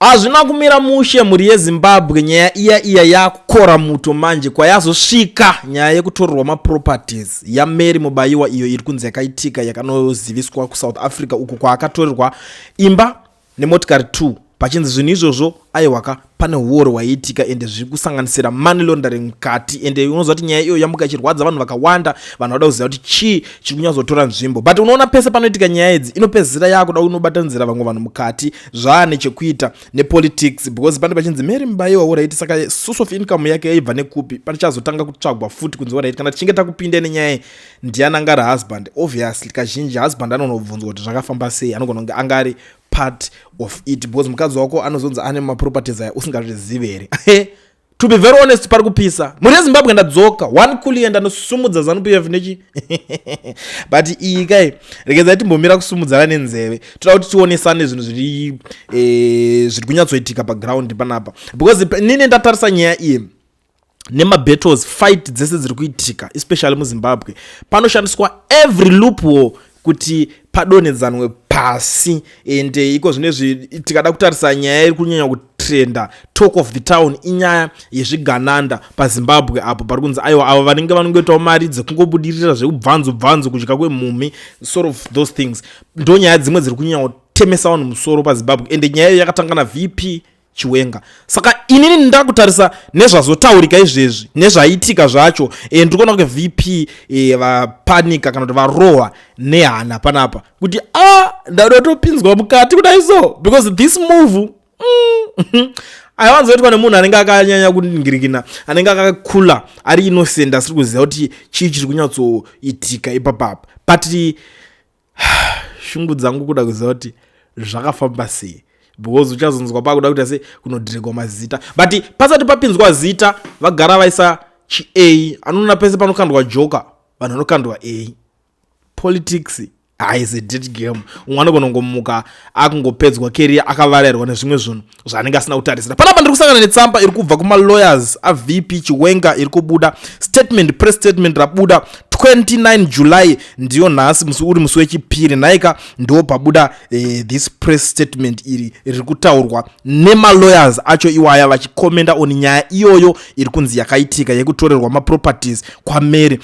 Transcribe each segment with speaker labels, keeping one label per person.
Speaker 1: Hazvina kumira mushe mhuri yeZimbabwe nyaya iya iya yakukora muto manje kwayazosvika nyaya yekutorerwa maproperties yaMary Mubayiwa iyo iri kunzi yakaitika yakanoziviswa kuSouth Africa uko kwaakatorerwa imba nemotikari 2 pachinzi zvinhu izvozvo aiwaka pane uoro hwaiitika ende zviri kusanganisira money laundering mukati ende unoziva kuti nyaya iyoyo yamuka ichirwadza vanhu vakawanda vanhu vada kuziva kuti chii chiri kunyatsotora nzvimbo but unoona pese panoitika nyaya idzi inopedzisira yaakuda unobatanizira vamwe vanhu mukati zvaane chekuita nepolitics because pane pachinzi mary mubaiwa orit saka source of income yake yaibva nekupi pachazotanga kutsvagwa futi kunzi orit kana tichinge takupinda nenyaya ndiani angari husband obviously kazhinji husband anonobvunzwa kuti zvakafamba sei anogona kunge angari part of it because mukadzi wako anozonzi ane maproperties aya usingatozvizive here to be very honest pari kupisa mhuri yezimbabwe ndadzoka one kuliye ndanosumudza zanup ef nechi but iyi kai regedzai timbomira kusumudzana nenzeve toda kuti tionesane zvinhu zviri eh, zviri kunyatsoitika paground panapa because nini ndatarisa nyaya iyi nemabattles fight dzese dziri kuitika especially muzimbabwe panoshandiswa every loop war kuti padonhedzanwe pasi and eh, iko zvino izvi tikada kutarisa nyaya iri kunyanya kutrenda talk of the town inyaya yezvigananda pazimbabwe apo pari kunzi aiwa avo vanenge vanongoitawo mari dzekungobudirira zvekubvanzo bvanzo kudya kwemhumhi sort of those things ndonyaya dzimwe dziri kunyanya kutemesa vanhu musoro pazimbabwe and nyaya iyo yakatanga navp chiwenga saka inini ndakutarisa nezvazotaurika izvezvi nezvaitika zvacho e, eh, ndiri kuona kuti vp e, eh, vapanika kana kuti varohwa nehana panapa kuti a ah, ndada topinzwa mukati kudai so because this move mm, aiwanzoitwa nemunhu anenge akanyanya kuningirikina anenge akakula ari inosend asiri kuziva kuti chii chiri kunyatsoitika ipapapa but shungu dzangu kuda kuziva kuti zvakafamba sei because uchazonzwa pakuda kuita sei kunodhiregwa mazita but pasati papinzwa zita vagara vaisa chia anoona pese panokandwa joka vanhu vanokandwa a politics haizi dead game umwe anogona kungomuka akungopedzwa keria akavarairwa nezvimwe zvinhu zvaanenge asina kutarisira panapa ndiri kusangana netsamba iri kubva kumalawyers avp chiwenga iri kubuda statement press statement rabuda 29 july ndiyo nhasi musi uri musi wechipiri nhaika ndo pabuda eh, this press statement iri riri kutaurwa nemalawyers acho iwaya vachikomenda on nyaya iyoyo iri kunzi yakaitika yekutorerwa maproperties kwamary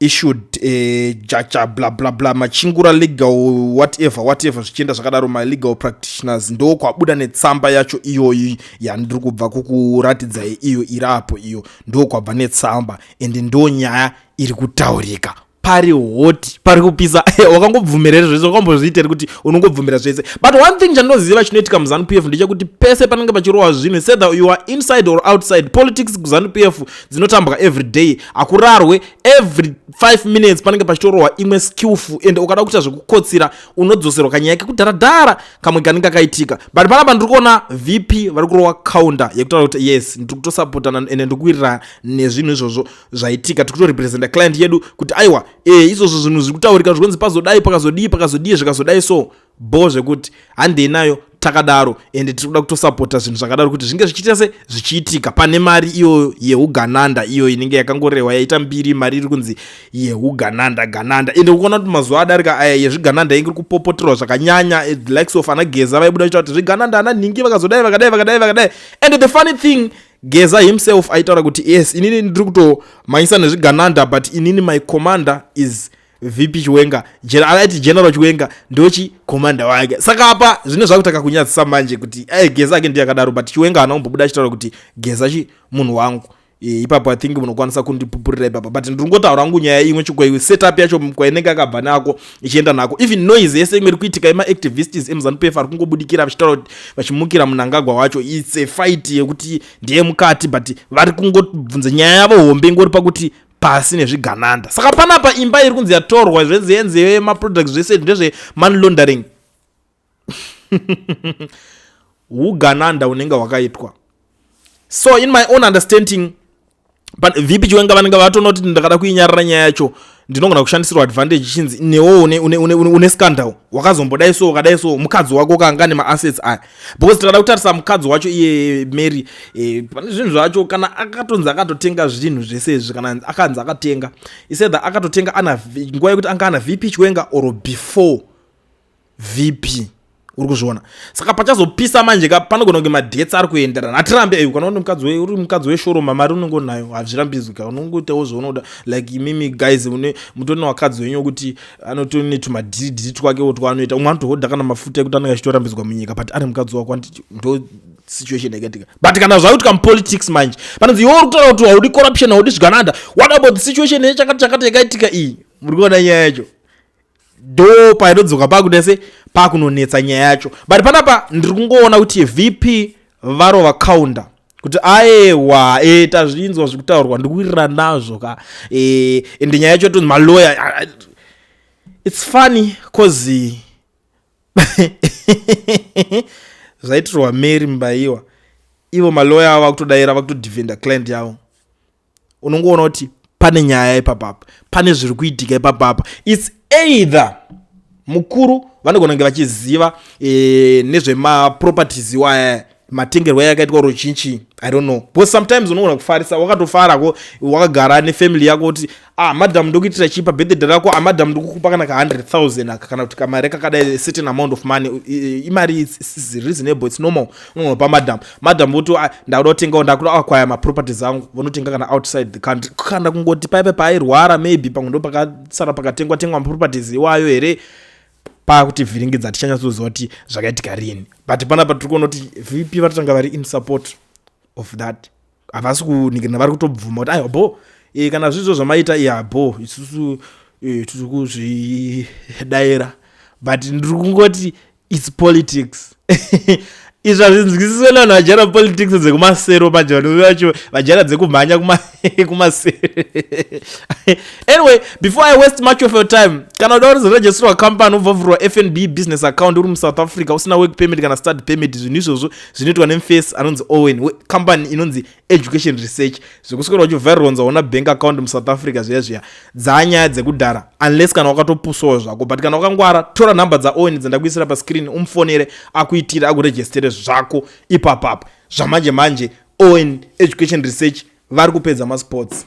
Speaker 1: issued eh, jaja bla bla bla machingura legal whatever whatever zvichienda zvakadaro malegal practitioners ndo kwabuda netsamba yacho iyoyi yandiri kubva kukuratidza iyo iri apo iyo ndo kwabva netsamba and ndo nyaya iri kutaurika pari hoti pari kupisa wakangobvumirere zvese wakambozviiteri kuti unongobvumira zvese but one thing chandinoziva chinoitika muzanu p f ndechekuti pese panenge pachirohwa zvinhu sether you are inside or outside politics kuzanu p f dzinotambwa every day hakurarwe every 5 minutes panenge pachitorohwa imwe skillful ende ukada kuita zvekukotsira unodzoserwa kanyaya kekudharadhara kamwe kanenge kakaitika but panapa ndiri kuona vp vari kurowa counter yekutaura kuti yes ndiri kutosapotana ende ndiri kuwirirana nezvinhu izvozvo zvaitika tiri kutorepresenta client yedu kuti aiwa e izvozvo zvinhu zviri kutaurika zvikonzi pazodai pakazodii pakazodii zvikazodai so bho zvekuti handei nayo takadaro ende tiri kuda kutosapota zvinhu zvakadaro kuti zvinge zvichiita se zvichiitika pane mari iyoyo yeugananda iyo inenge yakangorehwa yaita mbiri mari iri kunzi yeugananda gananda ende ukuona kuti mazuva adarika aya yezvigananda inge iri kupopoterwa zvakanyanya eh, the likes of ana geza vaibuda vachita kuti zvigananda ana nhingi vakazodai vakadai vakadai vakadai ende the funny thing geza himself aitaura kuti yes inini ndiri kutomhanyisa nezvigananda but inini my commander is vp chiwenga aiti general chiwenga ndochi commander wake saka apa zvine zvakutanga kunyadzisa manje kuti ai geza ake ndiye akadaro but chiwenga haana kumbobuda achitaura kuti geza chi munhu wangu e, ipapo i think munokwanisa kundipupurira ipapa but ndiri ngotaura ngu nyaya imwe chikwaiwe setup yacho kwainenge akabva nako ichienda nako even noise yese imwe iri kuitika emaactivists emuzanup f ari kungobudikira vachitaura kuti vachimukira munangagwa wacho its a fight yekuti ndeye mukati but vari kungobvunza nyaya yavo hombe ingori pakuti pasi nezvigananda saka panapa imba iri kunzi yatorwa zvezenze maproducts zvese ndezve money laundering ugananda unenge hwakaitwa so in my own understanding vp chiwenga vanenge vatonoti ndakada kuinyarira nyaya yacho ndinogona kushandisirwa advantage chinzi newo une, une, une, une, une scandal wakazombodai so wakadai so mukadzi wako kanga nemaasets aya because tikada kutarisa mukadzi wacho iye mary eh, pane zvinhu zvacho kana akatonzi akatotenga zvinhu zvese izvi kana akanzi akatenga isetha akatotenga ana nguva yekuti anga ana vp chiwenga or before vp uri kuzviona saka pachazopisa manje ka panogona kunge madetsi ari kuenderana hatirambe ei kana mukadzi we uri mukadzi weshoro mamari unenge unayo hazvirambidzwi ka unongoitawo zvaunoda like imimi guys une mutone wakadzi wenyu wekuti anotoni netumadhiridhiri twakewo twaanoita umwe anotohodha kana mafuta ekuti anenge achitorambidzwa munyika but ari mukadzi wako anditi ndo situation yakatika but kana zvauitika mupolitics manje panonzi iwe uri kutaura kuti haudi corruption haudi zvigananda what about the situation yechakati chakati yakaitika iyi muri kuona nyaya yacho do painodzoka pakuda se pakunonetsa nyaya yacho but panapa ndiri kungoona kuti vp varova counter kuti aewa e, tazvinzwa zviri kutaurwa ndikuwirira nazvo ka e, ende nyaya yacho tonzi maloya its funny cause zvaitirwa mary mbaiwa ivo maloya avo vakutodaira vakutodefenda client yavo unongoona kuti pane nyaya ipapapa pane zviri kuitika ipapapa its either mukuru vanogona kunge vachiziva e, nezvemaproperties iwaya matengerwo aya akaitwa ruchinchi i don't know because sometimes unogona kufarisa wakatofarako wakagara nefamily yako kuti ah madam ndokuitira chipa birthday rako ah madam ndokukupa kana ka 100000 aka kana kuti kamari kakadai certain amount of money imari is reasonable its normal unopa madam madam voti ndakuda kutengawo ndakuda akwaya maproperties angu vonotenga kana outside the country kana kungoti paive paairwara maybe pamwe ndo pakasara pakatengwa tengwa maproperties iwayo here paakuti vhiringidza tichanyatsoziva kuti zvakaitika rini but panapa tiri kuona kuti vp vatotanga vari in support of that havasi kunikirana vari kutobvuma kuti aiwa bho e, eh, kana zvizvo zvamaita iya bho isusu e, tiri kuzvidaira but ndiri kungoti its politics izvi hazvinzwisiswe nevanhu vajara politics dzekumasero manje vanove vacho vajara dzekumhanya kumasero anyway before i waste much of your time kana uda kurizorejistirwa company ubvavhurwa fnb business account uri musouth africa usina work permit kana start permit zvinhu izvozvo zvinoitwa nemfes anonzi owen wecompany inonzi education research zvekuswera uchivharironza ona bank account musouth africa zviya zviya dzaanyaya dzekudhara unless kana wakatopusawo zvako but kana wakangwara tora nhamba dzaowen dzendakuisira pascreen umufonere akuitire akuregistere zvako ipapapa zvamanje manje owen education research vari kupedza masports